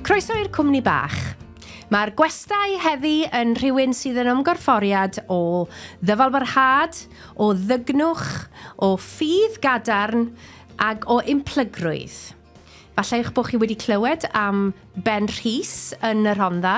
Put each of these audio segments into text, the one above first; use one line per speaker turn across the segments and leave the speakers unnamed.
Croeso i'r cwmni bach. Mae'r gwestai heddi yn rhywun sydd yn ymgorfforiad o ddyfalbarhad, o ddygnwch, o ffydd gadarn ac o implygrwydd. Falle eich bod chi wedi clywed am Ben Rhys yn y Rhondda,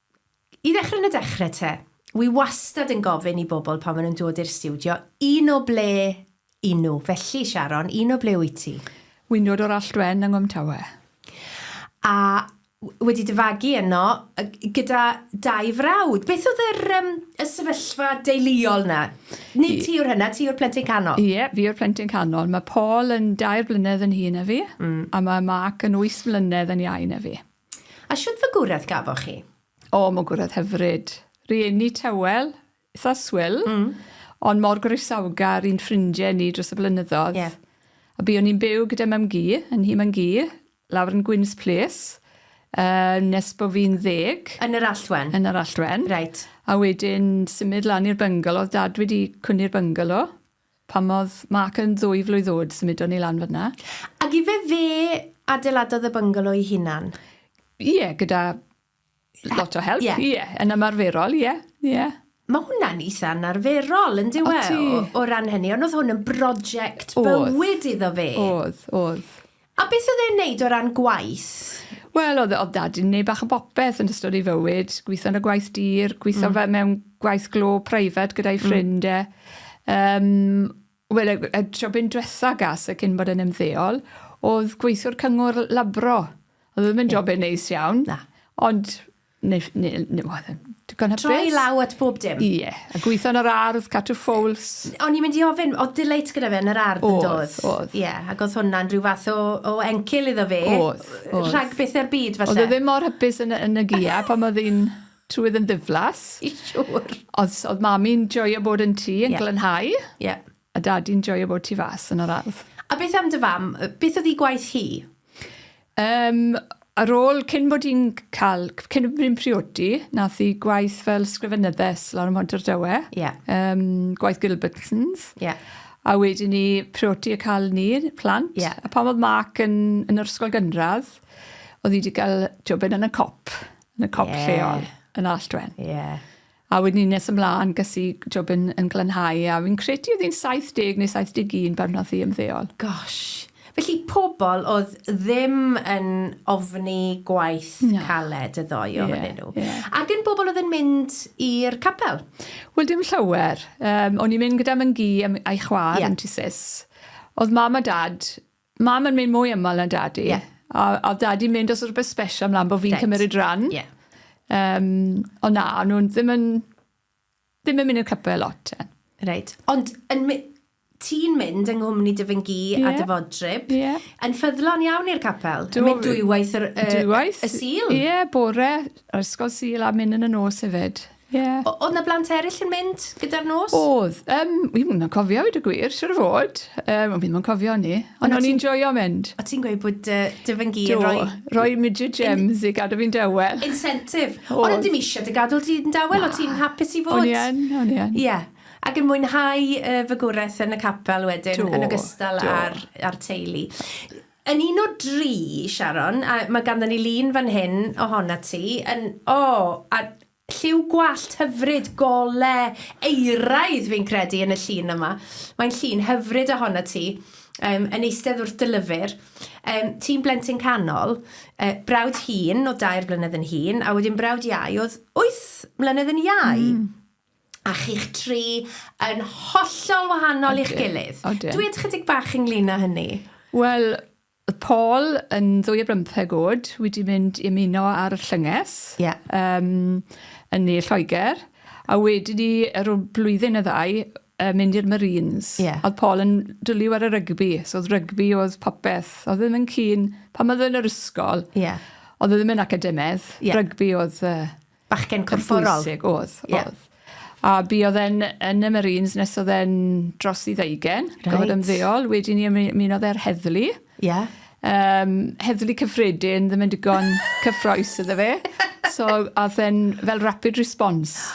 I ddechrau yn y dechrau te, wi wastad yn gofyn i bobl pan maen nhw'n dod i'r stiwdio, un o ble i nhw. Felly, Sharon, un o ble wyt ti? Wi'n dod o'r Alltwen yng Nghwmtawe. A wedi dy fagu yno gyda dau frawd. Beth oedd yr, um, y sefyllfa deuluol na? Nid ti yw'r hynna, ti yw'r plentyn canol. Ie, fi yw'r plentyn canol. Mae Paul yn dair blynedd yn hŷn na fi, mm. a mae Mark yn wyth mlynedd yn iau na fi. A shwt fagwraeth gafoch chi? O, magwraeth hyfryd. Rieni tywel, itha swil, mm. ond mor groesawgar i'n ffrindiau ni dros y blynyddoedd. Yeah. A bu o'n i'n byw gyda mam gi, yn hi mam gi, lawr yn Gwyns Place, uh, nes bod fi'n ddeg. Yn yr alltwen? Yn yr alltwen. Reit. A wedyn symud lan i'r byngalo, oedd dad wedi cwni'r byngalo, Pan oedd Mark yn ddwy flwydd oed, symudon ni lan fan'na. Ac ife fe adeiladodd y byngalo ei hunan? Ie, gyda lot o help, ie, yn ymarferol, ie, ie. Mae hwnna'n eitha anarferol, yn dyw e, o ran hynny, ond oedd hwn yn broject bywyd iddo fe. Oedd, oedd. A beth oedd e'n neud o ran gwaith? Wel oedd oedd dad yn neud bach o bopeth yn ystod ei fywyd, gwitho yn y gwaith dur, gwitho fe mewn gwaith glo preifat gyda'i ffrind e. Yym wel y y tro bu'n dwetha gas e cyn bod e'n ymddeol oedd gweithiwr cyngor labro. O'dd e ddim yn job e'n neis iawn. Na. Ond Neu, neu, neu, digon hapus. Troi law at bob dim. Ie, yeah. a gweithio yn yr ardd, cadw ffowls. O'n i'n mynd i ofyn, oedd delight gyda fe yn yr ardd yn dod? Oedd, oedd. Ie, yeah, ac oedd hwnna'n rhyw fath o, o encil iddo fe. Oedd, oedd. Rhag beth ar byd, falle. Oedd e ddim mor hapus yn, yn y gia pan oedd hi'n trwydd yn ddiflas. I siwr. Oedd, oedd mami'n joio bod yn tŷ yn yeah. glanhau. Ie. Yeah. A dadi'n joio bod tu fas yn yr ardd. A beth am dy fam? Beth oedd i gwaith hi? Um, ar ôl, cyn bod i'n cael, cyn bod i'n priodi, nath i gwaith fel sgrifenyddes lawr ym Mhont Dywe. Yeah. Um, gwaith Gilbertsons. Yeah. A wedyn ni priodi y cael ni, plant. Yeah. A pan oedd Mark yn, yn yr ysgol gynradd, oedd hi wedi cael jobyn yn y cop, yn y cop yeah. lleol, yn Alltwen. Yeah. A wedyn ni'n nes ymlaen, ges i job yn, yn Glanhau, a fi'n credu oedd hi'n 70 neu 71 pan wnaeth hi ymddeol. Gosh. Felly, pobl oedd ddim yn ofni gwaith Na. caled y ddou Ie, ohonyn nhw. ie. A gyn bobl oedd yn mynd i'r capel? Wel, dim llawer. Yym, o'n i'n mynd gyda Myn-gu a m- a'i chwaer... Ie. ...yn tŷ Sis. Oedd Mam a Dad Mam yn mynd mwy ymol na dadi. Yeah. A, a dadi mynd os rhywbeth special mlaen bod fi'n cymryd rhan. Yeah. Um, ond na, nhw'n ddim yn, ddim yn mynd i'r cypau lot. Ten. Reit. Ond yn, ti'n mynd yng nghwmni dy fy gi yeah. a dy fodryb, yeah. yn ffyddlon iawn i'r capel. Dwi'n mynd dwywaith y, y, dwywaith. y sil. Ie, yeah, bore, ysgol sil a mynd yn y nos hefyd. Yeah. O, oedd na blant eraill yn mynd gyda'r nos? Oedd. Um, wi mwyn o'n cofio, wedi gwir, siwr o fod. Um, ond fi'n mwyn cofio ni. Ond o'n i'n joio mynd. O ti'n gweud bod uh, dy fy ngir yn rhoi... Rhoi midget gems i gadw fi'n dawel. Incentive. Ond ydym eisiau dy gadw ti'n dawel, o ti'n hapus i fod? O'n i'n, o'n i'n. Ie. Yeah. Ac yn mwynhau uh, fy gwraeth yn y capel wedyn, yn ogystal ar, ar teulu. Yn un o dri, Sharon, a mae ganddon ni lun fan hyn ohonat ti, yn, o, a lliw gwallt hyfryd, gole, euraidd fi'n credu yn y llun yma. Mae'n llun hyfryd ohonat ti, um, yn eistedd wrth dy lyfr. Um, ti'n blentyn canol, uh, brawd hun o dair blynedd yn hun, a wedyn brawd iau oedd wyth mlynedd yn iau. Mm. a chi'ch tri yn hollol wahanol i'ch gilydd. Dwed chydig bach ynglyn â hynny. Wel, oedd Paul yn ddwy o bymtheg oed wedi mynd i ymuno ar y llynges yeah. um, yn ne Lloegr, a wedyn ni, ar ôl blwyddyn y ddau, uh, mynd i'r Marines. Yeah. Oedd Paul yn dwlu ar y rygbi, so oedd rygbi oedd popeth. Oedd ddim yn cyn, pan oedd yn yr ysgol, yeah. oedd e ddim yn academedd, yeah. rygbi oedd... Uh, Bachgen corfforol. Yn bwysig, oedd, oedd. Yeah. A bu oedd e'n yn y Marines nes oedd e'n dros i ddeugen. Right. Gofod ymddeol. Wedi ni ymunodd e'r heddlu. Ie. Yeah. Um, heddlu cyffredin, ddim yn digon cyffroes iddo fe. So, oedd e'n fel rapid response.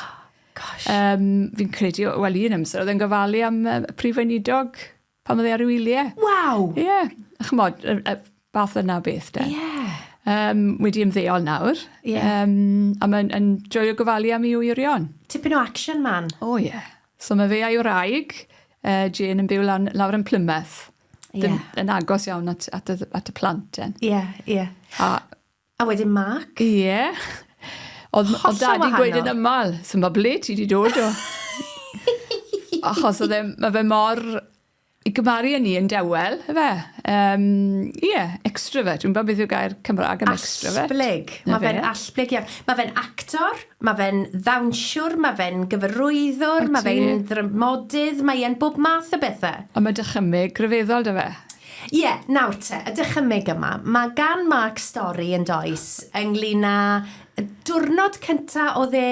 Gosh. Um, fi'n credu, wel un amser, oedd e'n gofalu am uh, prif weinidog pan oedd e ar ei wyliau. Waw! Ie, yeah. chymod, y, y fath yna beth de. Ie. Yeah. Um, wedi ymddeol nawr. Ie. Yeah. Um, a mae'n yn joio gofalu am ei wyrion. Tipyn o action man. O oh, ie. Yeah. So mae fe a'i wraig, uh, Jane yn byw lan, lawr yn Plymouth. Ie. Yeah. Yn agos iawn at, at, y, at y plant. Ie, ie. Yeah, yeah. A A wedyn Mark? Ie. Yeah. Oedd, oedd dadi'n gweud yn ymmal, so mae ble ti wedi dod o? Achos oedd e, mae fe mor... I gymaru â ni yn dewel, efe. Um, ie, yeah, extrovert. Dwi'n beth yw'r gair Cymraeg am extrovert. Asblyg. Mae fe'n asblyg iawn. Mae fe'n actor, mae fe'n ddawnsiwr, mae fe'n gyfarwyddwr, mae fe'n ddrymodydd, mae e'n bob math o bethau. Ond mae dychymyg gryfeddol da fe. Ie, nawr te, y dychymyg yma. Mae gan Mark stori, yn does, ynglyn â y diwrnod cynta oedd e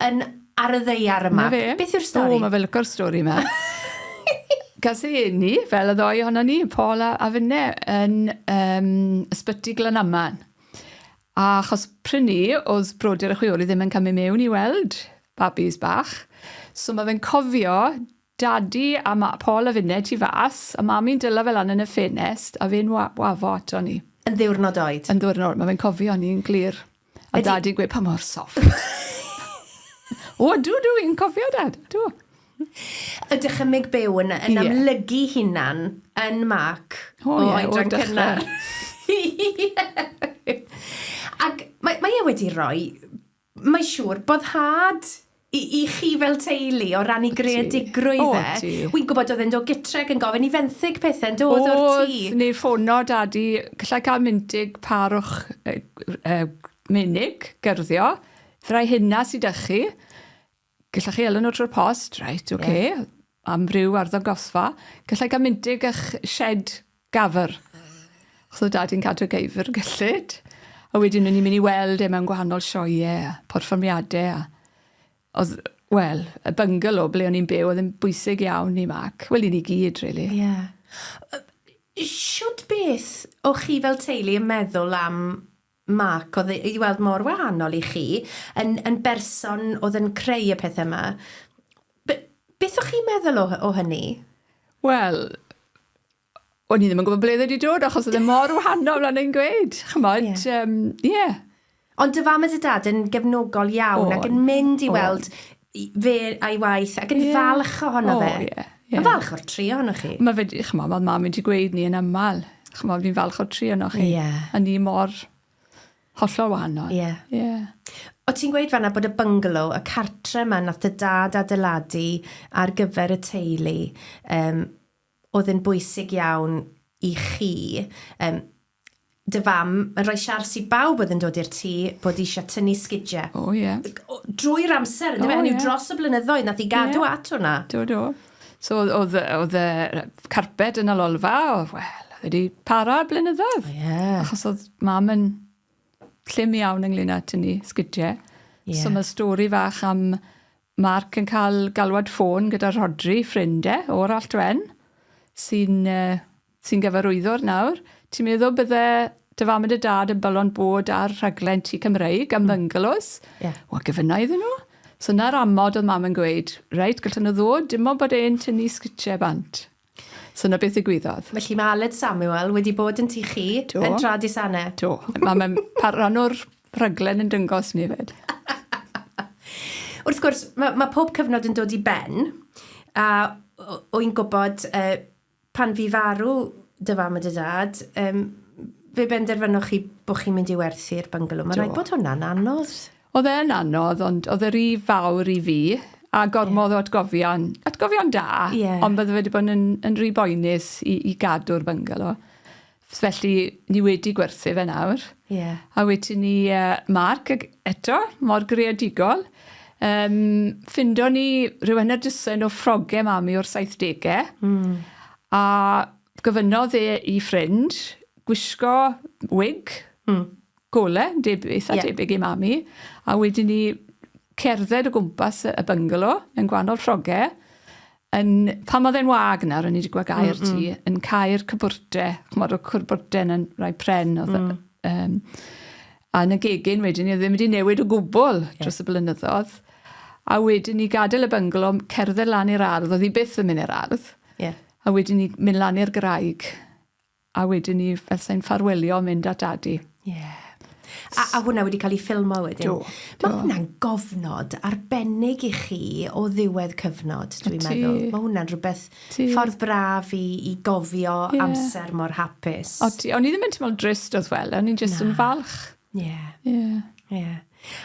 yn ar y ddeiar yma. Na fe. Beth yw'r stori? O, mae fe lyco'r stori yma. Gas ei eni, fel y ddoi ohono ni, Paul a, a finne, yn um, ysbyty Glanaman. A achos prynu, oedd brodyr y chwioli ddim yn cymryd mewn i weld babis bach. So mae fe'n cofio Dadi a ma Paul a finne tu fas, a mami'n dyla fe lan yn y ffenest, a fe'n wa- wafo ato ni. Yn ddiwrnod oed. Yn ddiwrnod, ma fe'n cofio ni'n glir. A Ydi. dadi'n gweud pa mor soft. O ydw, ydw, fi'n cofio dad, ydw. Y dychymyg byw yn, yn Ie. amlygu hunan yn Mark O, o ie, o'r oedran dechrau. cynnar. Ie. Ac mae, mae e wedi rhoi Mae siŵr, boddhad i, i chi fel teulu o rannu greadigrwydd e. Wy'n gwybod oedd e'n dod gytre ac yn gofyn i fenthyg pethau'n dod o'r tŷ. Oedd, neu ffono dadi, gallai cael myntig pâr o'ch uh, uh, menig, gerddio, rai hynna sydd â chi, Gallech chi elw nhw trwy'r post, reit, oce. Okay. Yeah. Amryw arddangosfa. Gallai gael myndig a'ch shed gafr. Os oedd dad i'n cadw geifr gyllid. A wedyn o'n i'n mynd i weld e mewn gwahanol sioiau a porfformiadau. A... Oedd, wel, y bungalow ble o'n i'n byw oedd yn bwysig iawn i Mac. Wel, i ni gyd, really. Ie. Yeah. Siwt beth o'ch chi fel teulu yn meddwl am Mark, oedd i weld mor wahanol i chi, yn, yn berson oedd yn creu y pethau yma. Be, beth o'ch chi'n meddwl o, o hynny? Wel, o'n i ddim yn gwybod ble wedi dod, achos oedd e mor wahanol yn ein gweud. Chymod, ie. Yeah. Um, yeah. Ond dy fam a dy dad yn gefnogol iawn o, ac yn mynd i weld fe a'i waith ac yn yeah. falch ohono oh, fe. Yeah, yeah. Yn falch o'r tri ohono chi. Mae fe, chymod, mae mam wedi gweud ni yn aml, chymod, fi'n falch o'r tri ohono chi. Yeah. A ni mor hollol wahanol. Ie. Yeah. Yeah. O ti'n gweud fanna bod y bungalow, y cartre yma nath y dad adeiladu ar gyfer y teulu, um, oedd yn bwysig iawn i chi. Um, dy fam yn rhoi siars i bawb oedd yn dod i'r tŷ bod eisiau tynnu sgidiau. O, oh, ie. Yeah. Drwy'r amser, yndyfe? Oh, Hynny yeah. dros y blynyddoedd, nath i gadw yeah. at hwnna. Do, do. So, oedd y carped yn y lolfa, oedd, wel, oedd wedi para blynyddoedd. Oh, yeah. Achos oedd mam yn llym iawn ynglyn â tynnu sgidiau. Yeah. So, mae stori fach am Mark yn cael galwad ffôn gyda Rodri, ffrindau, e, o'r Alltwen, sy'n uh, Ti'n gyfarwyddwr nawr. Ti'n meddwl bydde dy fam a dy dad yn balon bod ar rhaglen Tŷ Cymreig am byngalows? Mm. Yeah. Wel, gyfynna iddyn nhw. So na'r amod oedd mam yn gweud, reit, gallwn nhw ddod, dim ond bod e'n tynnu sgritiau bant. So na beth ddigwyddodd. Felly mae Aled Samuel wedi bod yn tu chi Do. yn tra disanne. Do. Mae mae'n pa- rhan o'r rhaglen yn dyngos ni fyd. Wrth gwrs, mae, mae pob cyfnod yn dod i ben, a o- o i'n gwybod, uh, Pan fu farw dy fam a dy dad, yym, fe benderfynoch chi bod chi'n mynd i werthu'r byngalo. Mae'n rhaid bod hwnna'n anodd. Oedd e yn anodd, ond oedd e ry fawr i fi, a gormod o atgofion, atgofion da, ond bydde fe wedi bod yn, yn ry boenus i, i gadw'r byngalo. Felly ni wedi gwerthu fe nawr. Ie. A wedi ni uh, Mark ag eto, mor greadigol. Um, ffindo ni rhyw enedysyn o ffroge mami o'r 70au. Mm. A gofynnodd e i ffrind gwisgo wig. Mm. gole, deb- eitha Ie. debyg i Mami, a wedyn 'ny cerdded o gwmpas y y byngalo yn gwanol lloge yn pan o'dd e'n wag nawr o'n i 'di gwel' gair ti... Mm mm. ...yn cau'r cwbwrde ch'mod o'dd cwrbwrde yn rai pren o'dd... Hmm. ...yy yym a yn y gegin wedyn 'ny o'dd e ddim wedi newid o gwbwl... Ie. ...dros y blynyddodd a wedyn 'ny gadel y byngalo m- cerdded lan i'r ardd o'dd 'i byth yn myn' i'r ardd. Ie. A wedyn 'ny myn' lan i'r graig A wedyn ni, fel sai'n ffarwelio, mynd at dadi. Ie. Yeah. A, a hwnna wedi cael ei ffilmo wedyn? Do. do. Mae hwnna'n gofnod arbennig i chi o ddiwedd cyfnod, dwi'n meddwl. Mae hwnna'n rhywbeth Ti. ffordd braf i, i gofio yeah. amser mor hapus. O, ti, o'n i ddim yn teimlo'n drist oedd wel, o'n i'n jyst yn falch. Ie. Ie. Ie.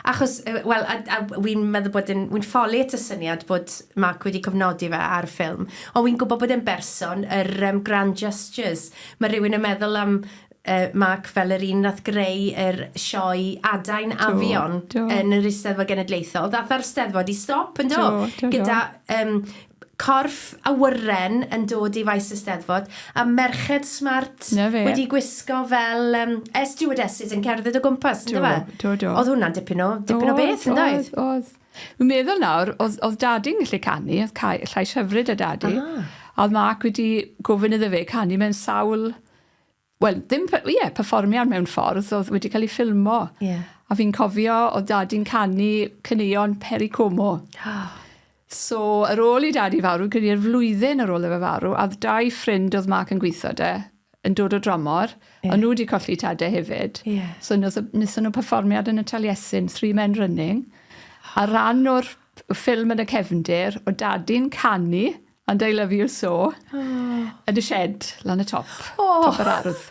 Achos, wel, a, a wy'n meddwl bod yn, wy'n ffoli at y syniad bod Mark wedi cofnodi fe ar ffilm, ond wy'n gwybod bod e'n berson yr um, grand gestures. Mae rhywun yn meddwl am uh, Mark fel yr un nath greu yr sioe adain afion yn yr Eisteddfod Genedlaethol. Ddath ar Steddfod i stop, yn do? Gyda um, corff awyren yn dod i faes y Steddfod, a merched smart... 'Na fe. ...wedi gwisgo fel yym air stewardeses yn cerdded o gwmpas on'd yfe? Do, do, do. O'dd hwnna'n dipyn o dipyn o beth yndoedd? O'dd, o'dd, o'dd. Wi'n meddwl nawr o'dd o'dd dadi'n gallu canu o'dd cau- llais hyfryd 'da dadi. Ah. A o'dd Mark wedi gofyn iddo fe canu mewn sawl wel, ddim, ie, yeah, perfformiad mewn ffordd, oedd wedi cael ei ffilmo. Yeah. A fi'n cofio, oedd dadi'n canu cyneuon Peri Como. so, ar ôl i dadi farw, gyda i'r flwyddyn ar ôl efe farw, a dau ffrind oedd Mark yn gweithio de, yn dod o dramor, yeah. ond nhw wedi colli tade hefyd. Yeah. So, nes nhw perfformiad yn y Taliesin, Three Men Running, a rhan o'r ffilm yn y cefndir, o dadi'n canu, And I love you so. Yn y shed, lan y top. Oh. Top yr ardd.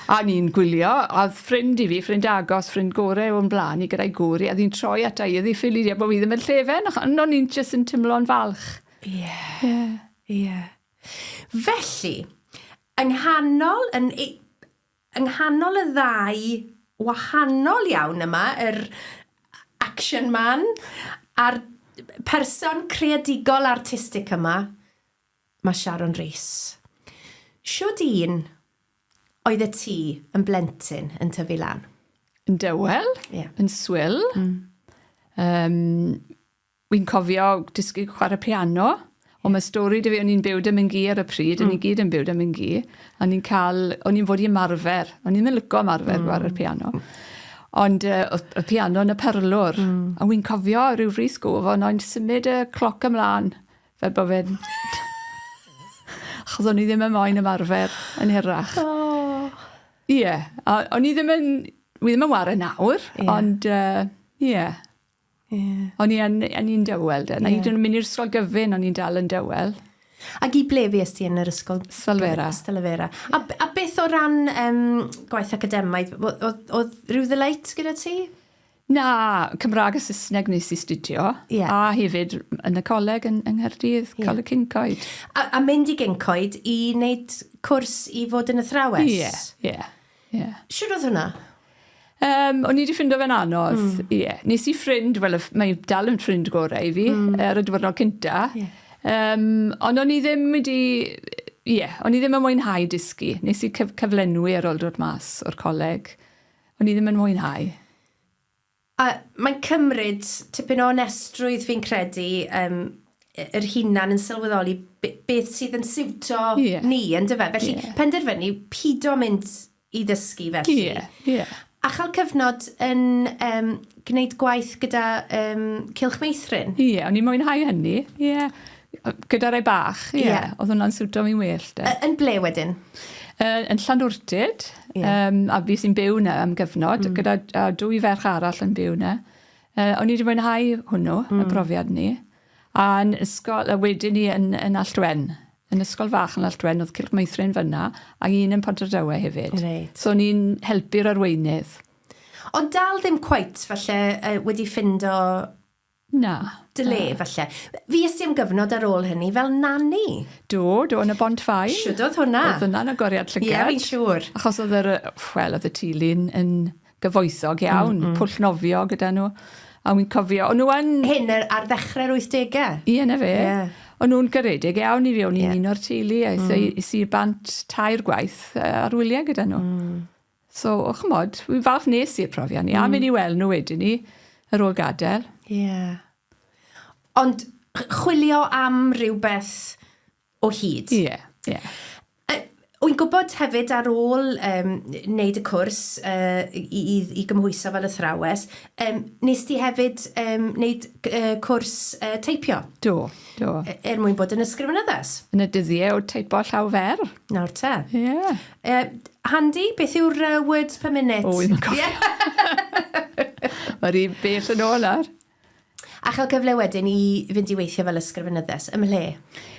A ni'n gwylio, a oedd ffrind i fi, ffrind agos, ffrind gore o'n blaen i gyda'i gŵr i, a ddi'n troi ata i, a ddi ffili di, a bod fi ddim yn llefen, ac o'n i'n jyst yn tymlo'n falch. Ie. Yeah. Ie. Yeah. Yeah. Felly, yng nghanol, yn, yng nghanol y ddau wahanol iawn yma, yr action man a'r person creadigol artistic yma, mae Sharon Rees. Shwd un oedd y ti yn blentyn yn tyfu lan? Yn dawel, yeah. yn swil. Mm. Um, Wi'n cofio dysgu chware piano. Ond ma' stori 'da fi o'n i'n byw 'da Minghi ar y pryd... Hmm. ...o'n ni gyd yn byw 'da Minghi a o'n i'n ca'l o'n i'n fod i ymarfer o'n i'm yn lico ymarfer... Hmm. ...gware'r piano. Ond yy o'dd y piano yn y parlwr. Hmm. A wi'n cofio ryw frith sgôf o' nain symud y cloc ymlan fel bo' fe'n achos o'n i ddim yn moyn ymarfer yn hirach. O! Ie a o'n i ddim yn wi ddim yn 'ware nawr. Ie. Ond yy ie. Yeah. O'n i yn, o'n i'n dywel de. Na yeah. hyd yn mynd i'r ysgol gyfyn, o'n i'n dal yn dywel. Ac i ble fi ysdi yn yr ysgol? Stalfera. Stalfera. Yeah. A, a beth o ran um, gwaith academaidd? Oedd rhyw ddyleit gyda ti? Na, Cymraeg a Saesneg nes i studio. Yeah. A hefyd yn y coleg yn, yng Nghaerdydd, yeah. Coleg Cyncoed. A, a mynd i Gyncoed i wneud cwrs i fod yn athrawes? Ie, yeah, ie. Yeah. Ie. Shwd odd hwnna? Um, o'n i wedi ffindo fe'n anodd. Ie. Mm. Yeah. Nes i ffrind, wel, mae dal yn ffrind gorau i fi, mm. ar y diwrnod cynta. Yeah. Um, ond o'n i ddim wedi... Ie, yeah, o'n i ddim yn mwynhau dysgu. Nes i cyf cyflenwi ar ôl dod mas o'r coleg. O'n i ddim yn mwynhau. A mae'n cymryd tipyn o onestrwydd fi'n credu yym y- yr hunan yn sylweddoli b- beth sydd yn siwto Ie. ni yndyfe? Ie. Felly penderfynu pido mynd i ddysgu felly. Ie, ie. A cha'l cyfnod yn yym gneud gwaith gyda yym Cylch Meithrin. Ie, o'n i'n mwynhau hynny, ie. Gyda rai bach, ie. Ie. Oedd hwnna'n siwto fi'n well 'de. Y- yn ble wedyn? Yy yn Llanwrtyd. Ie. Yym a fues i'n byw 'na am gyfnod... Hmm. ...gyda d- yy dwy ferch arall yn byw 'na. Yy o'n i 'di mwynhau hwnnw... Hmm. ...y brofiad 'ny. A yn ysgol a wedyn 'ny yn yn Alltwen. Yn ysgol fach yn Alltwen o'dd Cylch Meithrin fyn 'na a un yn Pontardawe hefyd. Reit. So o'n i'n helpu'r arweinydd. Ond dal ddim cweit falle yy wedi ffindo Na. Dy le, falle. Fues di am gyfnod ar ôl hynny fel nani? Do, do, yn y Bont Faen. Shwd oedd hwnna? Oedd hwnna'n agoriad llygad. Ie, fi'n siŵr. Achos oedd yr, wel, oedd y tulu'n yn gyfoethog iawn, pwll nofio gyda nhw. A wi'n cofio, o'n nhw yn... Hyn ar ddechrau'r 80au? Ie, 'na fe. O'n nhw'n garedig iawn i fi, o'n i'n un o'r teulu, a es i i'r Bant tair gwaith ar wyliau gyda nhw. So, o, chymod, fi'n falch nes i'r profiad ni, mm. a mynd i weld nhw wedyn ni, yr ôl gadael. Ie. Yeah. Ond chwilio am rhywbeth o hyd. Ie, yeah, ie. Yeah. Wy'n gwybod hefyd ar ôl um, wneud y cwrs uh, i, i, i gymhwyso fel athrawes, um, nes ti hefyd um, wneud uh, cwrs uh, teipio? Do, do. E, er mwyn bod yn ysgrifennyddus? Yn y dyddiau o teipo llaw fer. Nawr te. Ie. Yeah. Uh, Handy, beth yw'r uh, words per minute? O, i'n cofio. Mae'r un bell yn ôl ar. A chael cyfle wedyn i fynd i weithio fel ysgrifenyddes, ym mhle?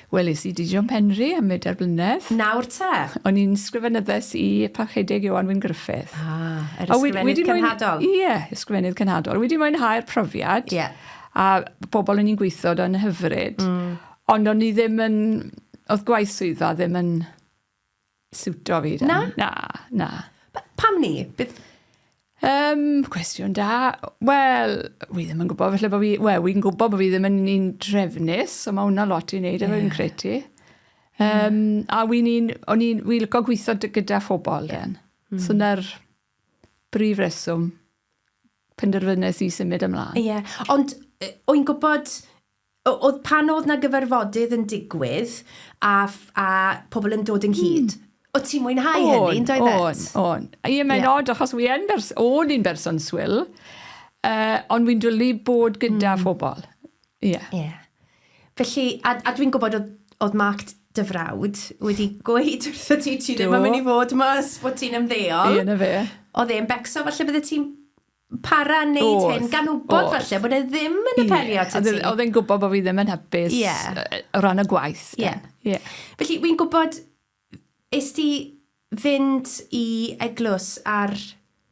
Wel, is i di John Penry am y derbynedd. Nawr te? O'n i'n sgrifenyddes i Parchedig Iwan Wyn Griffith. Ah, yr ysgrifenydd cynhadol? Ie, yeah, ysgrifenydd cynhadol. Wedi mwynhau'r profiad. Ie. Yeah. A bobl o'n i'n gweithio yn hyfryd. Mm. Ond o'n i ddim yn... Oedd gwaith swyddfa ddim yn siwto fi. Na? Na, na. Pam ni? Bydd... Um, cwestiwn da. Wel, wi ddim yn gwybod, felly bod fi... Wel, wi'n gwybod bod fi ddim yn un drefnus, so mae hwnna lot i wneud yeah. efo'n credu. Um, a wi'n un... O'n i'n... Wi'n lygo gweithio gyda phobl, yeah. den. Mm. So na'r brif reswm penderfynus i symud ymlaen. Ie, yeah. ond o'n gwybod Oedd pan oedd na gyfarfodydd yn digwydd a, a pobl yn dod ynghyd. Mm. Oedd ti'n mwynhau on, hynny, yn doedd et? On, on. Ie, mae'n yeah. odd, achos wi yn bers, o'n i'n berson swyl, uh, ond wi'n dwlu bod gyda mm. phobl. Ie. Yeah. Yeah. Felly, a, a dwi'n gwybod oedd, oedd Mark dy frawd wedi gweud wrth y ti ti ddim yn mynd i fod mas bod ti'n ymddeol. Ie, na fe. Oedd e'n becso, falle bydde ti'n para yn neud hyn, gan wybod falle bod e ddim yn apelio at y ti. Oedd e'n gwybod bod fi ddim yn hapus yeah. o ran y gwaith. Yeah. Yeah. Felly, wy'n gwybod, is ti fynd i eglwys ar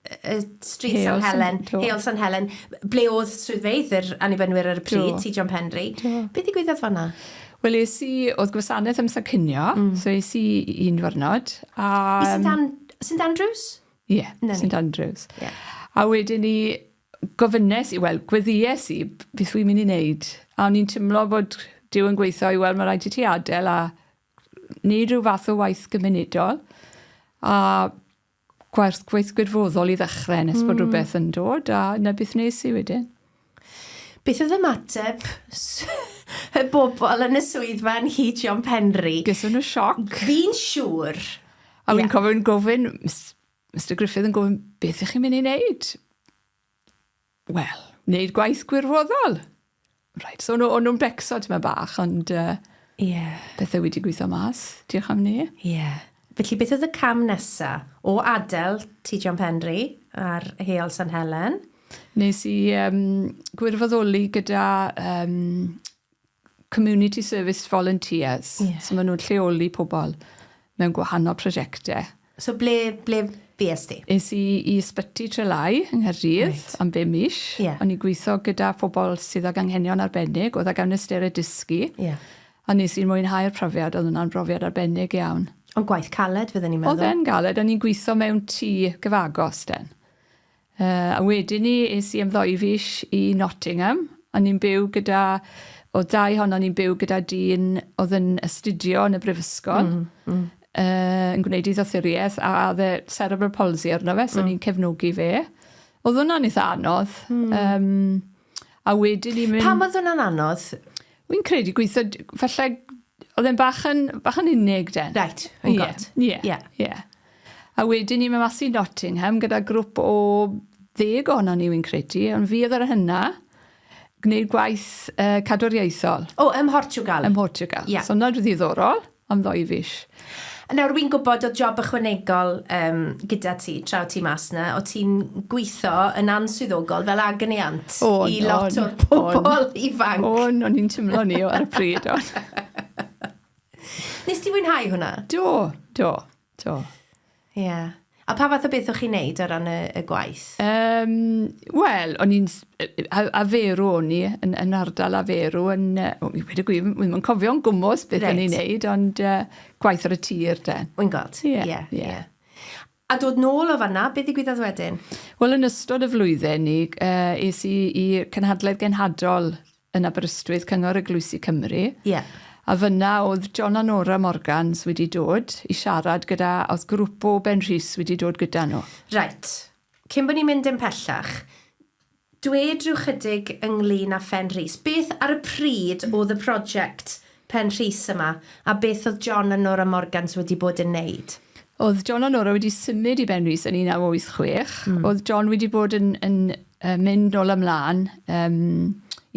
y Street San Helen, Heol San Helen, ble oedd swyddfeydd yr annibynnwyr ar y pryd, ti John Penry. Beth i gwyddoedd fanna? Wel, es i, oedd gwasanaeth am San Cynio, mm. so es i un dwrnod. Um, I St Andrews? Ie, St Andrews. Ie. A wedyn ni gofynes i, wel, gweddies i beth wy'n mynd i wneud. A o'n i'n timlo bod Dyw yn gweithio i, wel, mae rhaid i ti adael a wneud rhyw fath o waith gymunedol. A gwaith, gwaith gwirfoddol i ddechrau nes bod mm. rhywbeth yn dod a na beth nes i wedyn. Beth oedd ymateb y bobl yn y swyddfa yn Hyd John Penry? Gyswn nhw sioc. Fi'n siŵr. A fi'n yeah. cofio yn gofyn, Mr Griffith yn gofyn, beth ych chi'n mynd i wneud? Wel, wneud gwaith gwirfoddol. Right, so nhw, nhw'n becso ti'n bach, ond uh, yeah. pethau wedi gweithio mas, diolch am ni. Yeah. Felly beth oedd y cam nesa? O adael Tŷ John Penri ar Heol San Helen? Nes i um, gwirfoddoli gyda um, Community Service Volunteers. Yeah. So maen nhw'n lleoli pobl mewn gwahanol prosiectau. So ble, ble fues ti? Es i i Ysbyty Trelai yng Nghaerdydd right. am be mis. Yeah. O'n i gweithio gyda phobl sydd ag anghenion arbennig, oedd ag anwystere dysgu. Yeah. A nes i mwynhau'r profiad, oedd hwnna'n brofiad arbennig iawn. Ond gwaith caled fydden i'n meddwl? Oedd e'n galed, o'n i'n gwitho mewn tŷ gyfagos den. Yy, a wedyn 'ny es i am ddou fis i Nottingham, o'n i'n byw gyda, o'dd dau ohonon ni'n byw gyda dyn o'dd yn astudio yn y brifysgol. Hmm, hmm. Yy, yn gwneud ei ddoethurieth, a o'dd e cerebral palsy arno fe, so o'n i'n cefnogi fe. O'dd hwnna'n itha anodd. Hmm. Yym. A wedyn ni mynd... Pam oedd hwnna'n anodd? Wy'n credu gweithio, falle, oedd e'n bach yn, bach yn unig den. Right, yn yeah, god. Ie, yeah, yeah. yeah. A wedyn ni mynd mas i Nottingham gyda grwp o ddeg ohono ni, wy'n credu, ond fi oedd yr hynna gwneud gwaith uh, cadwriaethol. O, ym Mhortugal. Ym Mhortugal. Yeah. So, hwnna'n ddiddorol. am ddou fis. Nawr wi'n gwybod o'dd job ychwanegol yym gyda ti tra o' ti mas 'na, o' ti'n gwitho yn answyddogol fel agony aunt i lot o'r pobol ifanc. O'n, o'n i'n timlo ni o ar y pryd o'n. Nes ti fwynhau hwnna? Do, do. Do. Ie. Yeah. A pa fath o beth o'ch chi'n neud o ran y, y gwaith? Um, Wel, o'n i'n... A, a ferw o'n i, yn, yn ardal a ferw, yn... Uh, mi wedi gwir, wy'n yn cofio'n gwmwys beth right. o'n i'n neud, ond uh, gwaith ar y tir, de. Wy'n gweld, ie. Yeah, ie. Yeah, yeah. yeah. A dod nôl o fanna, beth ddigwyddodd wedyn? Wel, yn ystod y flwyddyn, ni, uh, es i i Cynhadledd Genhadol yn Aberystwyth, Cyngor Eglwysi Cymru. Ie. A fyna oedd John a Nora Morgans wedi dod i siarad gyda, oedd grwp o Ben Rhys wedi dod gyda nhw. Reit. Cyn bod ni'n mynd yn pellach, dwed rhyw chydig ynglyn â Phen Rhys. Beth ar y pryd oedd y project Pen Rhys yma, a beth oedd John a Nora Morgans wedi bod yn neud? Oedd John a Nora wedi symud i Ben Rhys yn 1986. Oedd John wedi bod yn, yn uh, mynd nôl ymlaen um,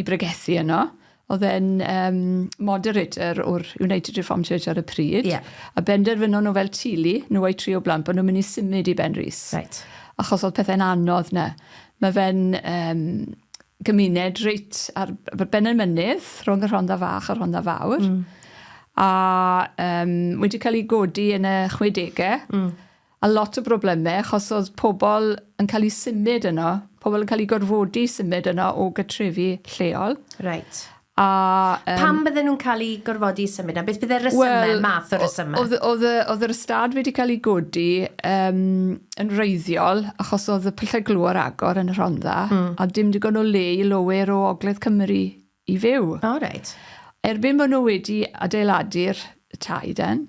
i bregethu yno. Oedd e'n um, moderator o'r United Reformed Church ar y pryd. Yeah. A benderfynon nhw fel tili, nhw a'i tri o blant, bod nhw'n mynd i symud i Ben Rhys. Right. Achos oedd pethau'n anodd na. Mae fe'n um, gymuned reit ar ben y mynydd, rhwng y Rhondda Fach a'r Rhondda Fawr. Mm. A um, wedi cael ei godi yn y 60au. Mm. A lot o broblemau, achos oedd pobl yn cael ei symud yno. Pobl yn cael ei gorfodi symud yno o gytrefi lleol. Right. A yym... Pam bydden nhw'n cael eu gorfodi i symud 'na? Beth bydde'r rhesymau... Wel... ...math o resymau? Oedd oedd y oedd yr ystâd wedi cael ei godi yym yn wreiddiol achos oedd y pyllau glo ar agor yn y Rhondda... Mm. ...a dim digon o le i lowyr o ogledd Cymru i fyw. O reit. Erbyn bo' nhw wedi adeiladu'r y tai den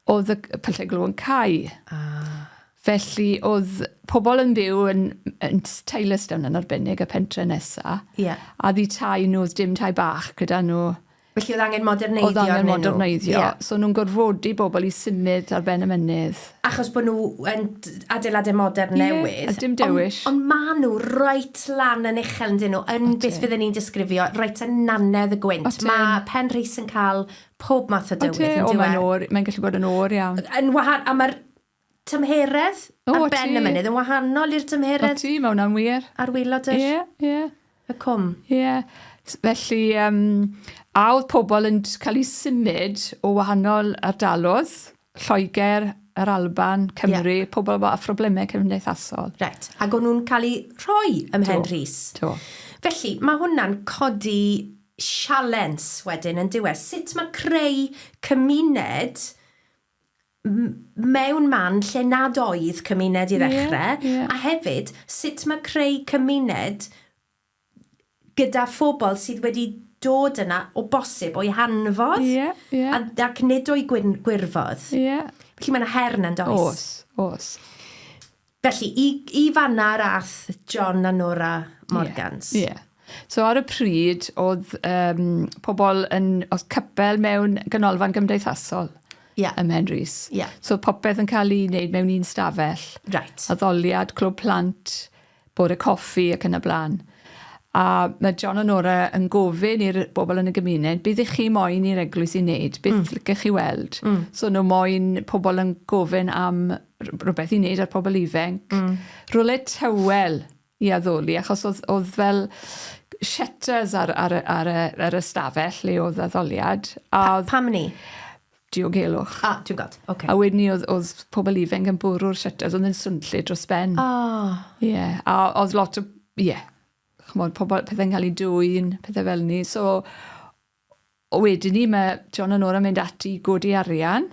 oedd y pyllau glw yn cau. Ah. Felly oedd pobl yn byw yn, yn Taylorstown yn arbennig, y pentre nesa. Yeah. A ddi tai nhw, oedd dim tai bach gyda nhw. Felly oedd angen moderneiddio Oedd angen moderneiddio. Yeah. So nhw'n gorfodi bobl i symud ar ben y mynydd. Achos bod nhw yn adeiladau modern yeah, newydd. a dim dewish. Ond on ma nhw reit lan yn uchel yn dyn nhw, yn beth fydden ni'n disgrifio, reit yn nanedd y gwynt. Mae Pen Rhys yn cael pob math o dywydd, yndyw e? O, mae'n oer, mae'n gallu bod yn oer iawn. Yn wahan, a mae'r tymheredd o, ar ben y mynydd yn wahanol i'r tymheredd... O ti, mae hwnna'n wir. ...ar wylod yr... Ie, ie. ...y cwm. Ie. Felly, um, a oedd pobl yn cael eu symud o wahanol ardalodd? Lloegr, yr Alban, Cymru, yeah. pobl efo phroblemau cymdeithasol. Right. Ac o'n nhw'n cael eu rhoi ym Mhen Rhys. Do. Felly, mae hwnna'n codi sialens wedyn yn diwedd. Sut mae creu cymuned mewn man lle nad oedd cymuned i ddechrau, yeah, yeah. a hefyd sut mae creu cymuned gyda phobl sydd wedi dod yna o bosib o'i hanfod. Ie, ie. A, ac nid o'i gwyn- gwirfodd. Ie. Felly mae yna her yna, yn does? Oes, oes. Felly, i, i fanna yr ath John a Nora Morgans. Ie, ie. So ar y pryd, oedd um, pobl yn, oedd cypel mewn ganolfan gymdeithasol yeah. ym Mhenrhys. Yeah. So popeth yn cael ei wneud mewn un stafell. Right. Addoliad, clwb plant, bore coffi ac yn y blaen. A mae John a Nora yn gofyn i'r bobl yn y gymuned, beth ych chi moyn i'r eglwys i wneud? Beth mm. lycech chi weld? Mm. So nhw moyn pobl yn gofyn am rhywbeth i wneud ar pobl ifenc. Mm. Rwle tywel i addoli, achos oedd, oedd fel shutters ar, ar, ar, ar, ar y stafell le oedd addoliad. A pa, pam ni? diogelwch. Ah, ti'n gweld, oce. A wedyn ni oedd, oedd pobl ifanc yn bwrw'r shutters, oedd yn swnllyd dros ben. O! Oh. Ie, yeah. a oedd lot o, ie, yeah. chymod, pobl, pethau'n cael ei dwy'n, pethau fel ni. So, o wedyn ni, mae John a Nora mynd ati godi arian,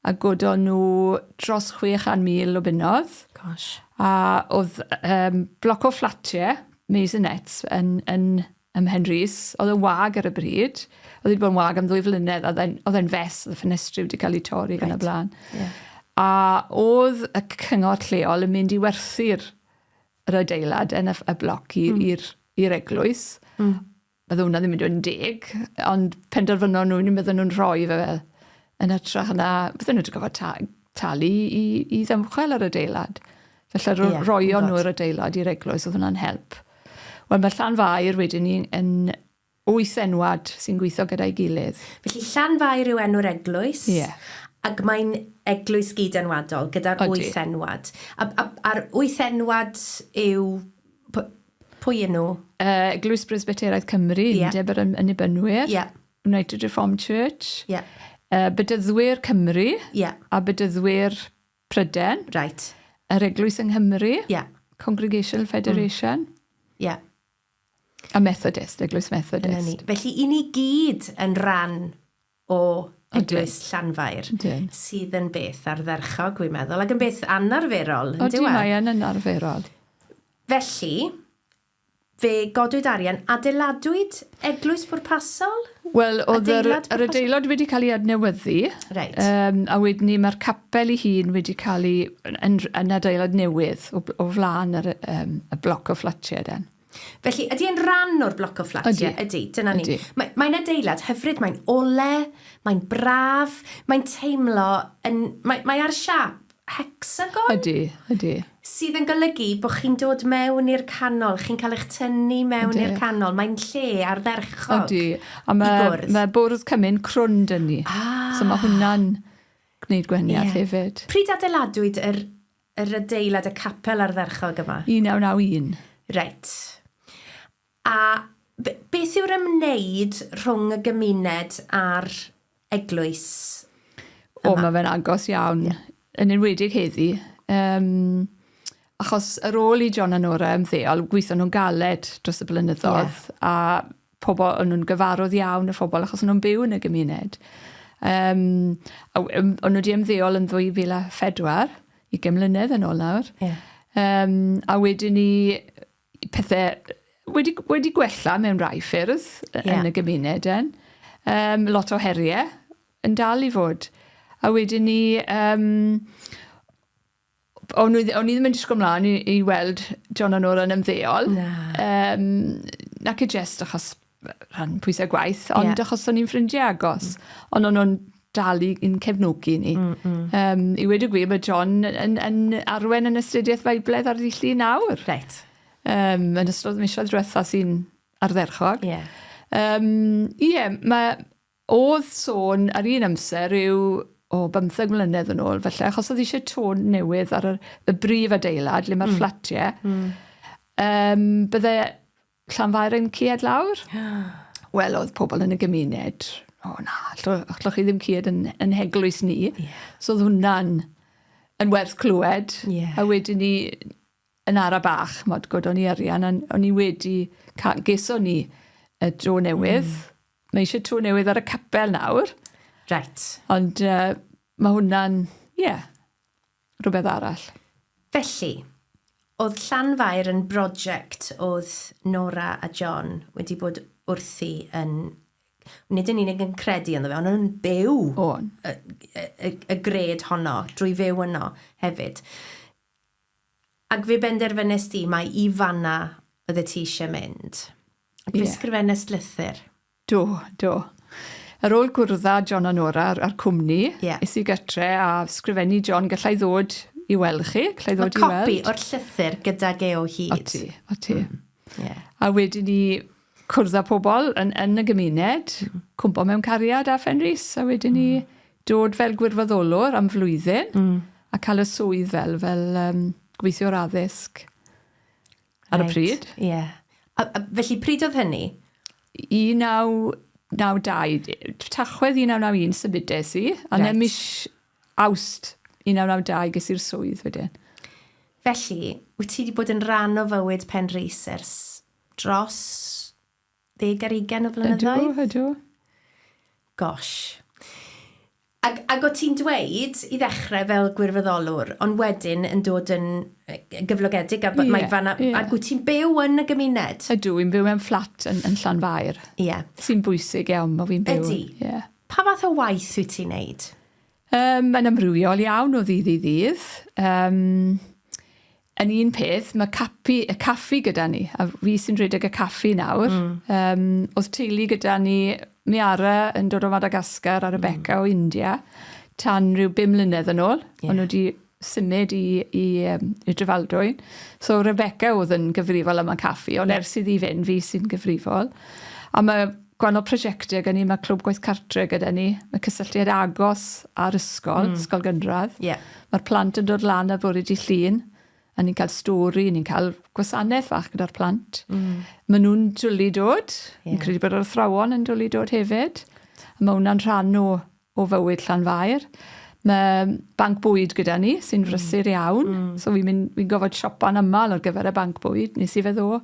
a godo nhw dros 600,000 o bunnodd. Gosh. A oedd um, bloc o fflatiau, Maisonets, yn, yn ym Mhenrhys. Oedd yn wag ar y bryd. Oedd wedi bod yn wag am ddwy flynedd. Oedd e'n, oedd e'n fes, oedd y ffenestri wedi cael ei torri right. yn y blaen. Yeah. A oedd y cyngor lleol yn mynd i werthu'r yr adeilad yn y, y bloc mm. i'r mm. eglwys. Mm. Oedd hwnna ddim yn dweud yn deg, ond penderfynon nhw, ni'n meddwl nhw'n rhoi fe fel Yn ytrach na, bydden nhw wedi gofod ta, talu i, i ddymchwel yr adeilad. Felly ro, yeah, roion nhw yr adeilad i'r eglwys, oedd hwnna'n help. Wel, mae Llanfair wedyn ni yn wyth enwad sy'n gweithio gyda'i gilydd. Felly Llanfair yw enw'r eglwys, yeah. ac mae'n eglwys gyd-enwadol gyda'r wyth enwad. A, a, a'r wyth enwad yw... Pwy yn nhw? Uh, eglwys Bresbyteraidd Cymru, yeah. undeb yr ynibynwyr. Yeah. United Reformed Church. Ie. Yeah. Uh, Bedyddwyr Cymru. Ie. Yeah. A Bedyddwyr Pryden. Right. Yr Eglwys yng Nghymru. Ie. Yeah. Congregational Federation. Mm. Ie. Mm. Yeah. A Methodist, Eglwys Methodist. Felly, i ni gyd yn rhan o Eglwys Llanfair, Dyn. sydd yn beth ardderchog, dwi'n meddwl, ac yn beth anarferol. O, di e? mae yn anarferol. Felly, Fe godwyd arian, adeiladwyd eglwys pwrpasol? Wel, oedd yr adeilad wedi cael ei adnewyddu, a wedyn 'ny mae'r capel ei hun wedi cael ei... yn adeilad newydd o flaen yr y bloc o fflatiau den. Felly, ydy e'n ran o'r bloc o fflatiau? Ydy. Ydy, dyna ni. Mae'n adeilad hyfryd, mae'n ole, mae'n braf, mae'n teimlo yn... mae ar siâp Hecsagon? Ydy, ydy. Sydd yn golygu bod chi'n dod mewn i'r canol, chi'n cael eich tynnu mewn i'r canol. Mae'n lle ardderchog Ydy. A mae, i gwrdd. Mae bwrdd cymun crwn dyn ni. Ah. So mae hwnna'n gwneud gwahaniaeth yeah. hefyd. Pryd adeiladwyd yr, yr adeilad y capel ardderchog yma? 1991. Reit. A beth yw'r ymwneud rhwng y gymuned a'r eglwys? Yma? O, mae fe'n agos iawn, yeah. yn enwedig heddi. Um, achos ar ôl i John a Nora ymddeol, gweithio nhw'n galed dros y blynyddoedd, yeah. a pobl, o'n nhw'n gyfarwydd iawn y phobl, achos o'n nhw'n byw yn y gymuned. Um, o'n nhw wedi ymddeol yn 2004, i gymlynedd yn ôl nawr. Yeah. Um, a wedyn ni, pethau wedi, wedi gwella mewn rhai ffyrdd yeah. yn y gymuned yn. Um, lot o heriau yn dal i fod. A wedyn ni, um, o'n, i, o'n i ddim yn disgwyl mlaen i, i weld John a Nora yn ymddeol. Na. Um, nac i jest achos rhan pwysau gwaith, ond yeah. achos o'n i'n ffrindiau agos, mm. ond o'n nhw'n dal i'n cefnogi ni. Mm, mm. Um, I wedi gwir, mae John yn, yn arwen yn astudiaeth Feibledd ar ddillu nawr. Reit. Um, yn ystod misoedd diwetha sy'n ardderchog. Ie. Yeah. Um, yeah, mae oedd sôn ar un amser yw o bymtheg mlynedd yn ôl, felly, achos oedd eisiau tôn newydd ar y, y brif adeilad, le mae'r mm. fflatiau, mm. um, bydde Llanfairyn cued lawr. Wel, oedd pobl yn y gymuned, o na, allwch chi ddim cued yn, yn heglwys ni. Yeah. So oedd hwnna'n yn werth clywed. Yeah. A wedyn ni, yn ara bach, mod god o'n i arian, a o'n i wedi, geso ni y dro newydd. Mm. Mae eisiau tro newydd ar y capel nawr. Right. Ond uh, mae hwnna'n, ie, yeah, rhywbeth arall. Felly, oedd Llanfair yn broject oedd Nora a John wedi bod wrthi yn, nid yn unig yn credu ynddo fe, ond yn byw O'n. y, y, y, y gred honno, drwy fyw yno hefyd. Ac fe benderfynest ti mai i fanna oeddet ti eisiau mynd. Ac fe yeah. sgrifennest lythyr. Do, do. Ar ôl cwrdd â John a Nora a'r cwmni... Ie. ...es i gytre a sgrifennu John, galla i ddod i weld chi? Galla i ddod i weld? Mae copi o'r llythyr gydag e o hyd. O ti, o ti. Mm. Ie. A wedyn ni cwrdd â pobl yn, yn y gymuned, mm. cwmpo mewn cariad â Fenris, a wedyn ni mm. dod fel gwirfoddolwr am flwyddyn, mm. a cael y swydd fel, fel um, gweithiwr addysg. Ar y pryd? Ie. Yeah. A, a felly, pryd oedd hynny? 1992, tachwedd 1991 symudes i, a right. mis awst 1992 ges i'r swydd wedyn. Felly, wyt ti wedi bod yn rhan o fywyd Pen Rhys ers dros ddeg ar ugen o flynyddoedd? Ydw, ydw. Gosh. Ac, ac o ti'n dweud i ddechrau fel gwirfoddolwr, ond wedyn yn dod yn gyflogedig, a yeah, mae fanna, yeah. ac wyt ti'n byw yn y gymuned? Ydw, i'n byw mewn fflat yn, yn Llanfair. Ie. Yeah. Sy'n bwysig iawn, mae fi'n byw. Ydy. Ie. Yeah. Pa fath o waith wyt ti'n neud? Um, mae'n amrywiol iawn o ddydd i ddydd. Um, Yn un peth, mae capi, y caffi gyda ni, a fi sy'n rhedeg y caffi nawr. Mm. Um, oedd teulu gyda ni, Miara yn dod o Madagascar a Rebecca mm. o India, tan rhyw bum mlynedd yn ôl. Yeah. Ond nhw wedi symud i, i, um, i Drefaldwyn. So Rebecca oedd yn gyfrifol am y caffi, ond yeah. ers iddi fynd, fi sy'n gyfrifol. A mae Gwahanol prosiectau gen i, mae Clwb Gwaith Cartre gyda ni, mae cysylltiad agos â'r ysgol, mm. ysgol gynradd. Yeah. Mae'r plant yn dod lan ar fore di llun, a ni'n cael stori, ni'n cael gwasanaeth fach gyda'r plant. Mm. Maen nhw'n dwlu dod, yeah. ni'n credu bod yr athrawon yn dwlu dod hefyd. A mae hwnna'n rhan o o fywyd Llanfair. Mae banc bwyd gyda ni sy'n mm. frysur iawn. Mm. So fi'n mynd, fi'n gofod siopa'n aml ar gyfer y banc bwyd. Nes i fe ddo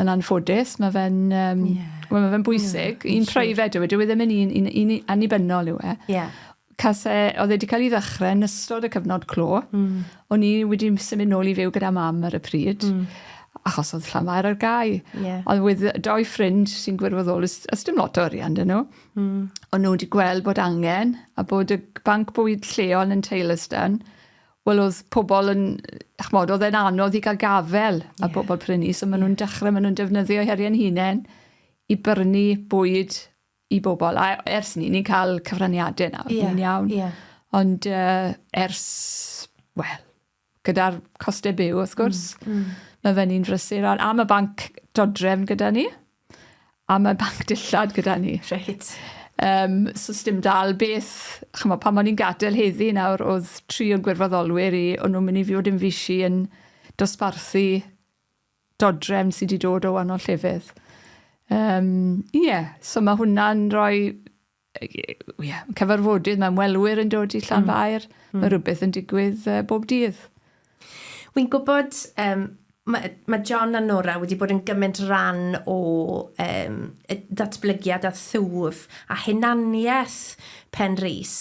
yn anffodus. Mae fe'n um, yeah. well, ma fe bwysig. Yeah, un private yw e. Dwi e ddim yn un, un, un, un annibynnol yw e. Yeah. Case, oedd e wedi cael ei ddechrau yn ystod y cyfnod clo. Mm. O'n i wedi symud nôl i fyw gyda mam ar y pryd. Mm achos oedd Llanfair ar gau. Yeah. Ond wedd doi ffrind sy'n gwirfoddol, ys, ys dim lot o arian dyn nhw. Mm. O'n nhw wedi gweld bod angen a bod y banc bwyd lleol yn Taylorston, wel oedd pobl yn, chmod, oedd e'n anodd i gael gafel yeah. a pobl prynu, so maen nhw'n dechrau, maen nhw'n defnyddio heriau'n hunain i brynu bwyd i bobl. A ers ni, ni'n cael cyfraniadau nawr, yeah. ni'n iawn. Yeah. Ond uh, ers, wel, gyda'r costau byw, wrth gwrs. Mm, mm. Mae fe'n un frysur. A, a mae banc dodrefn gyda ni. A mae banc dillad gyda ni. Reit. Um, so sdim dal beth, chymo, pan o'n i'n gadael heddi nawr, oedd tri o'n gwirfoddolwyr i, o'n nhw'n mynd i fod yn fisi yn dosbarthu dodrefn sydd wedi dod o wahanol llefydd. Um, ie, yeah. so mae hwnna'n rhoi ie, cyfarfodydd, mae ymwelwyr yn dod i Llanfair. Mm. Mm. Mae rhywbeth yn digwydd uh, bob dydd. Wy'n gwybod, um, mae, mae John a Nora wedi bod yn gymaint ran o um, datblygiad a thwf a hunaniaeth Pen Rhys.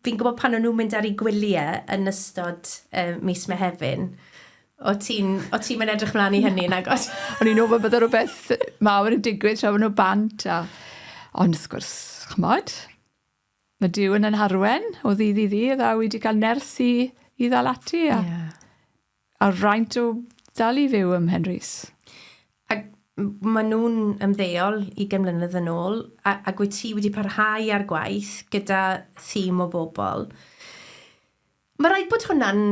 Fi'n gwybod pan o'n nhw'n mynd ar ei gwyliau yn ystod uh, mis Mehefin, o ti'n ti mynd edrych mlaen i hynny yn agos? o'n i'n ofyn bod rhywbeth mawr yn digwydd tra nhw bant. A... Ond wrth gwrs, chymod, mae Dyw yn yn harwen o ddydd i ddydd a wedi cael nerth i, i ddal ati. A... Yeah. A rhaint o dal i fyw ym Mhenrhys. Ac maen nhw'n ymddeol ugain mlynedd yn ôl, a, ac wyt ti wedi parhau â'r gwaith gyda thîm o bobl. Mae rhaid bod hwnna'n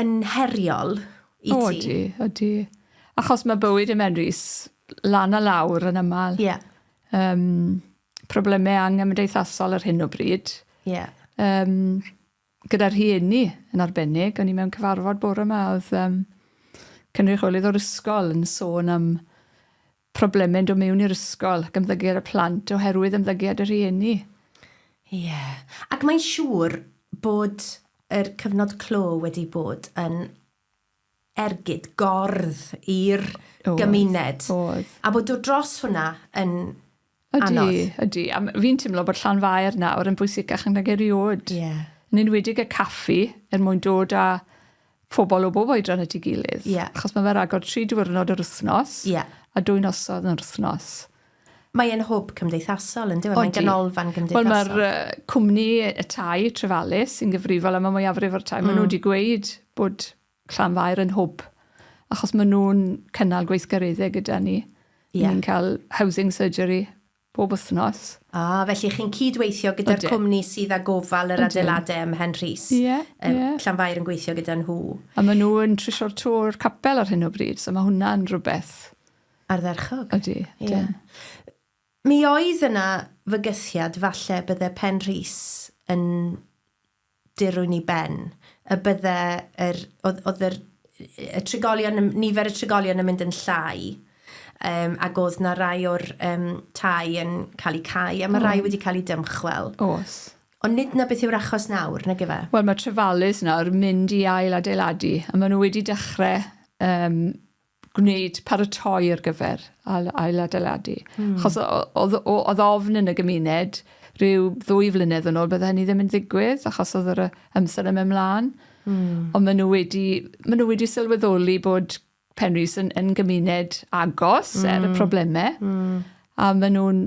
yn heriol i ti. O, ydy, ydy. Achos mae bywyd ym Mhenrhys lan a lawr yn aml. Yeah. Um, problemau anghymdeithasol ar hyn o bryd. Yeah. Um, gyda rhieni yn arbennig. O'n i mewn cyfarfod bore yma, oedd um, cynrychiolydd o'r ysgol yn sôn am problemau'n dod mewn i'r ysgol ac ymddygiad y plant oherwydd ymddygiad y rhieni. Ie. Yeah. Ac mae'n siŵr bod yr cyfnod clo wedi bod yn ergyd, gordd i'r gymuned. Oedd. A bod dod dros hwnna yn ydy, anodd. Ydy, a fi'n teimlo bod llan faer nawr yn bwysicach nag erioed. Ie. Yeah. Yn enwedig y caffi er mwyn dod â phobl o bob oedran at ei gilydd. Yeah. Achos mae fe ragor tri diwrnod yr wythnos. Yeah. A dwy nosodd yn yr wythnos. Mae e'n hwb cymdeithasol, yndyw e? Mae'n ganolfan gymdeithasol. Wel, mae'r cwmni y tai, Trefalis, sy'n gyfrifol am y mwyafrif o'r tai, mm. maen nhw wedi gweud bod Llanfair yn hwb, achos maen nhw'n cynnal gweithgareddau gyda ni. Yeah. Ni'n cael housing surgery bob wythnos. A, ah, felly chi'n cydweithio gyda'r cwmni sydd â gofal yr adeiladau ym Mhen Rhys. Ie, yeah, ie. Yeah. Llanfair yn gweithio gyda nhw. A maen nhw'n trisio'r tor capel ar hyn o bryd, so mae hwnna'n rhywbeth Ardderchog. Ydi, dim. Ie. Mi oedd yna fygythiad falle bydde Pen Rhys yn dirwyn i ben, y bydde yr, oedd, oedd yr, y trigolion, nifer y trigolion yn mynd yn llai, um, ac oedd na rai o'r um, tai yn cael eu cau, a mae rai wedi cael eu dymchwel. Os. Ond nid na beth yw'r achos nawr, nag efe? Wel, mae trefalus nawr mynd i ail adeiladu, a maen nhw wedi dechrau um, gwneud paratoi ar gyfer ail-adeiladu. Mm. Chos oedd ofn yn y gymuned rhyw ddwy flynedd yn ôl bydde hynny ddim yn ddigwydd achos oedd yr amser yn mynd mlaen. Mm. Ond maen nhw wedi, maen nhw wedi sylweddoli bod Penrhys yn, yn gymuned agos mm. er y hmm. problemau. Mm. A maen nhw'n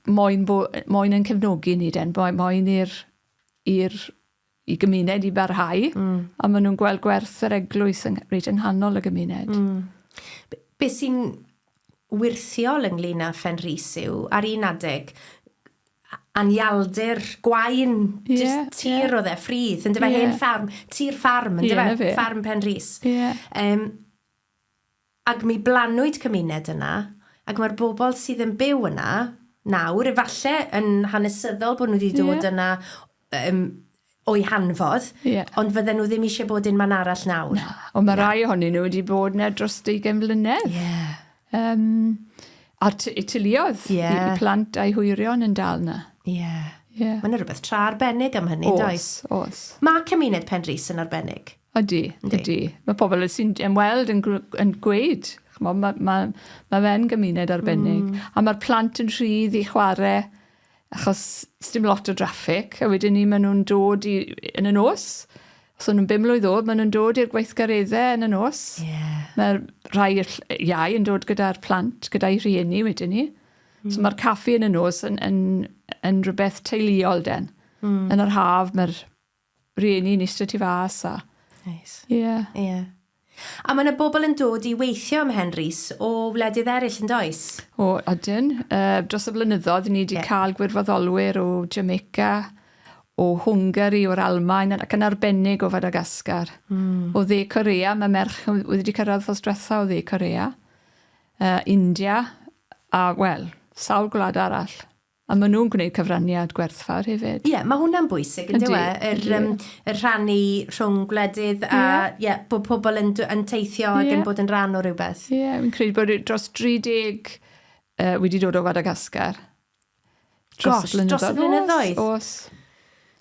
moyn, bo, moyn yn cefnogi ni den, moyn i'r i'r i gymuned i barhau. Mm. A ma' nw'n gweld gwerth yr eglwys yng reit yng nghanol y gymuned. Mm. Be, be sy'n wirthiol ynglyn â Phen Rhys yw, ar un adeg, anialdir gwain yeah, just tir yeah. oedd e, ffridd, yn dyfa yeah. hen ffarm, tir ffarm, yn dyfa, yeah, ffarm Pen Rhys. Yeah. Um, Ac mi blannwyd cymuned yna, ac mae'r bobl sydd yn byw yna nawr, efallai yn hanesyddol bod nhw wedi dod yeah. yna um, o'i hanfodd, yeah. ond fydden nhw ddim eisiau bod yn man arall nawr. Na, ond mae rai ohonyn nhw wedi bod yna dros 20 mlynedd. Yeah. Um, a tiliodd yeah. i plant a'i hwyrion yn dal yna. Ie. Yeah. Yeah. Mae'n rhywbeth tra arbennig am hynny, os, does? Os, Mae cymuned Penrhys yn arbennig. Ydy, ydy. Mae pobl sy'n ymweld yn, yn gweud, chymod, mae, mae, mae fe'n gymuned arbennig. Mm. A mae'r plant yn rhydd i chwarae, achos dim lot o draffig, a wedyn ni maen nhw'n dod i, yn y nos, os nhw'n bum mlynedd oed, maen nhw'n dod i'r gweithgareddau yn y nos. Yeah. Mae'r rhai iau yn dod gyda'r plant, gyda'i rhieni wedyn ni. Mm. So mae'r caffi yn y nos yn, yn, yn rhywbeth teuluol den. Mm. Yn yr haf mae'r Rhieni ni straight i fas a... Neis. Ie. Ie. A mae 'na bobl yn dod i weithio ym Mhen Rhys o wledydd eraill yn does? O ydyn. Yy dros y flynyddoedd ni 'di cael gwirfoddolwyr o Jamaica, o Hwngari, o'r Almaen ac yn arbennig o Fadagascar. Hmm. O Dde Corea mae merch yn wedi wedi cyrraedd wthos dwetha o Dde Corea. Yy India a wel sawl gwlad arall. A maen nhw'n gwneud cyfraniad gwerthfawr hefyd. Ie, mae hwnna'n bwysig, yn dyw e? Yr yym, yr rhannu rhwng gwledydd a... Ie. ...ie, bod pobl yn dw- yn teithio... Ie. ...ac yn bod yn rhan o rywbeth. Ie, fi'n credu bod yy dros 30 yy wedi dod o Fadagascar. Gosh, dros y blynyddoedd? Dros y blynyddoedd? Oes, oes.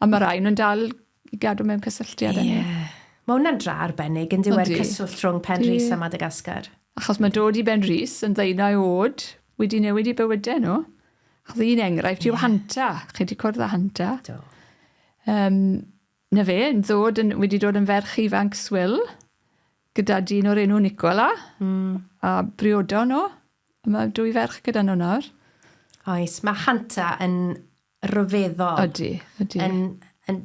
A ma' rai o nhw'n dal I gadw mewn cysylltiad â ni. Ie. Mae hwnna'n dra arbennig, yn dyw e, y cyswllt rhwng Penrhys a Madagascar. Achos mae dod i Benrhys yn ddeunau oed wedi newid eu bywydau nhw. Achos un enghraifft yw Hanta. Chi wedi cwrdd â Hanta? Do. Um, na fe, yn ddod yn, wedi dod yn ferch ifanc swil gyda dyn o'r enw Nicola. Mm. A briodo nhw. Mae dwy ferch gyda nhw nawr. Oes, mae Hanta yn rhyfeddol. Ydy, ydy. Yn, yn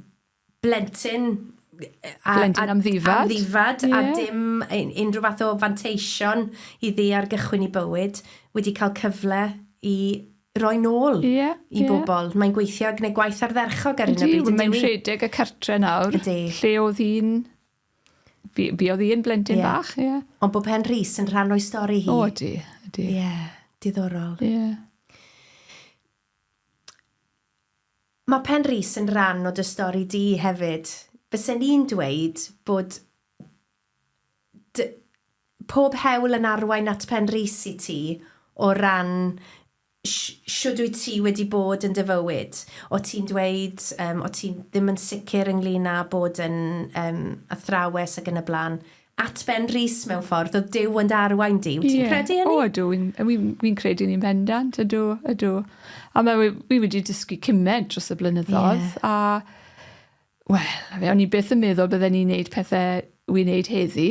blentyn a, blentyn am ddifad, am ddifad yeah. a dim unrhyw fath o fanteision i ddi ar gychwyn i bywyd, wedi cael cyfle i roi nôl yeah, i yeah. bobl. Mae'n gweithio gwneud gwaith ardderchog ar hyn o bryd. Mae'n rhedeg y cartre nawr, Ydy. lle oedd hi'n... Fi, fi oedd hi'n blentyn yeah. bach, ie. Yeah. Ond bod Pen Rhys yn rhan o'i stori hi. O, ydy, ydy. Ie, yeah, diddorol. Ie. Yeah. Mae Pen Rhys yn ran o dy stori di hefyd. Bysen i'n dweud bod dy- pob hewl yn arwain at Pen Rhys i ti o ran sh- shwd wyt ti wedi bod yn dy fywyd. O' ti'n dweud yym o' ti ddim yn sicr ynglŷn â bod yn yym athrawes ac yn y blaen. At Ben Rees mewn ffordd, oedd Duw yn dy arwain di, wyt ti'n credu hynny? O, ydw, wi'n credu ni'n bendant, ydw, ydw. A mae wi wedi dysgu cymed dros y blynyddoedd, a, wel, o'n i byth yn meddwl bydden ni'n neud pethau wi'n neud heddi,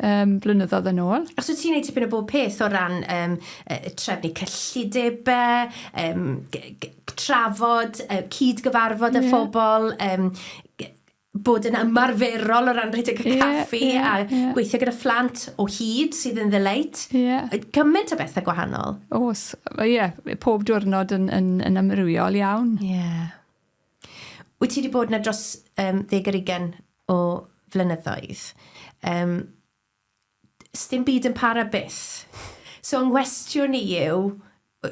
um, blynyddoedd yn ôl. Os wyt ti'n neud tipyn o bob peth o ran um, trefnu cyllidebau, um, trafod, uh, cyd-gyfarfod y yeah. phobl, um, bod yn ymarferol o ran rhedeg y caffi yeah, yeah, a yeah. gweithio gyda phlant o hyd sydd yn ddyleit. Yeah. Gymaint o bethau gwahanol. Os, ie, yeah, pob diwrnod yn, yn, yn amrywiol iawn. Ie. Yeah. Wyt ti wedi bod yna dros um, ddeg ar ugen o flynyddoedd. Um, sdim byd yn para byth. So yng nghwestiwn i yw,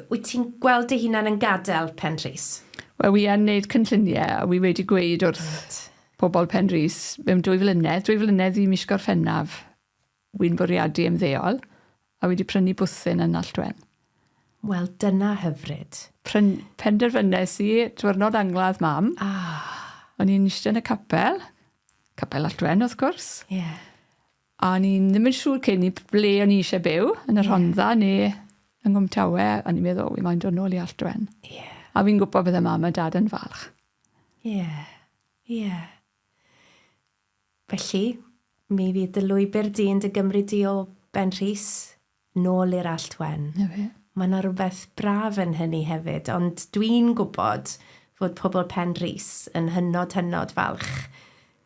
wyt ti'n gweld dy hunan yn gadael Penrhys? Wel, wi yn neud cynllunie, a wi wedi gweud wrth... Reit. ...pobol Penrhys, mewn dwy flynedd, dwy flynedd i mis Gorffennaf, wi'n bwriadu ymddeol, A wedi prynu bwthyn yn Nant Wen. Wel, dyna hyfryd. Pryn, penderfynes i, diwrnod angladd mam. Ah. O'n i'n eistedd yn y capel. Capel Nant Wen, wrth gwrs. Ie. Yeah. A o'n i'n ddim yn siŵr cyn i ble o'n i eisiau byw, yn y yeah. Rhondda neu yng Nghwmtawe. O'n i'n meddwl, wi mae'n dod nôl i Allt Wen. Ie. Yeah. A fi'n gwybod bydde mam a dad yn falch. Ie. Yeah. Ie. Yeah. Felly, mi fydd dy lwybr di yn dy gymryd di o Ben Rhys nôl i'r Allt Wen. Na fe. Mae yna rywbeth braf yn hynny hefyd, ond dwi'n gwybod fod pobl Pen Rhys yn hynod, hynod falch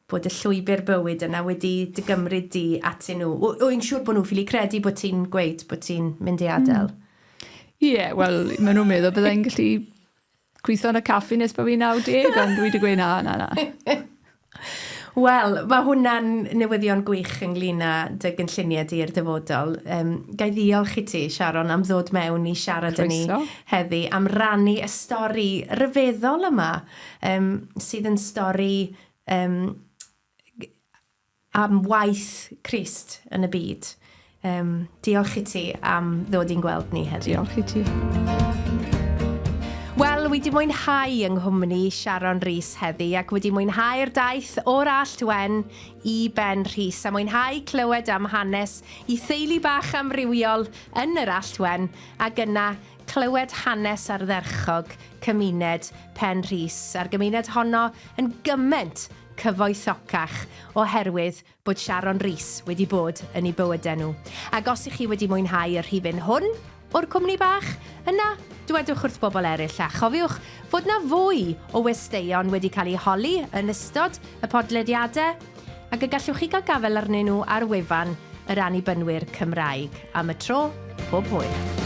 bod y llwybr bywyd yna wedi dy gymryd di atyn nhw. W- wy'n siŵr bod nhw'n ffili credu bod ti'n gweud bod ti'n mynd i adael. Ie, wel, maen nhw'n meddwl byddai'n gallu gweithio yn y caffi nes bod fi'n 90, ond dwi wedi gweud na, na, na. Wel, mae hwnna'n newyddion gwych ynglyn â dy gynlluniau di i'r dyfodol. Um, gai ddiolch i ti, Sharon, am ddod mewn i siarad â ni heddi, am rannu y stori ryfeddol yma, um, sydd yn stori um, am waith Crist yn y byd. Um, diolch i ti am ddod i'n gweld ni heddiw. Diolch i ti. Wel, wedi mwynhau yng nghwmni Sharon Rhys heddi ac wedi mwynhau'r daith o'r Allt Wen i Ben Rhys a mwynhau clywed am hanes i theulu bach amrywiol yn yr Allt Wen ac yna Clywed hanes ardderchog cymuned Pen Rhys a'r gymuned honno yn gyment cyfoethocach oherwydd bod Sharon Rees wedi bod yn eu bywydau nhw. Ac os ych chi wedi mwynhau y rhifyn hwn o'r Cwmni Bach, yna dwedwch wrth bobl eraill a chofiwch fod 'na fwy o westeion wedi cael eu holi yn ystod y podlediadau. ac y gallwch chi gael gafael arnyn nhw ar wefan yr Annibynwyr Cymraeg. Am y tro, pob hwyl!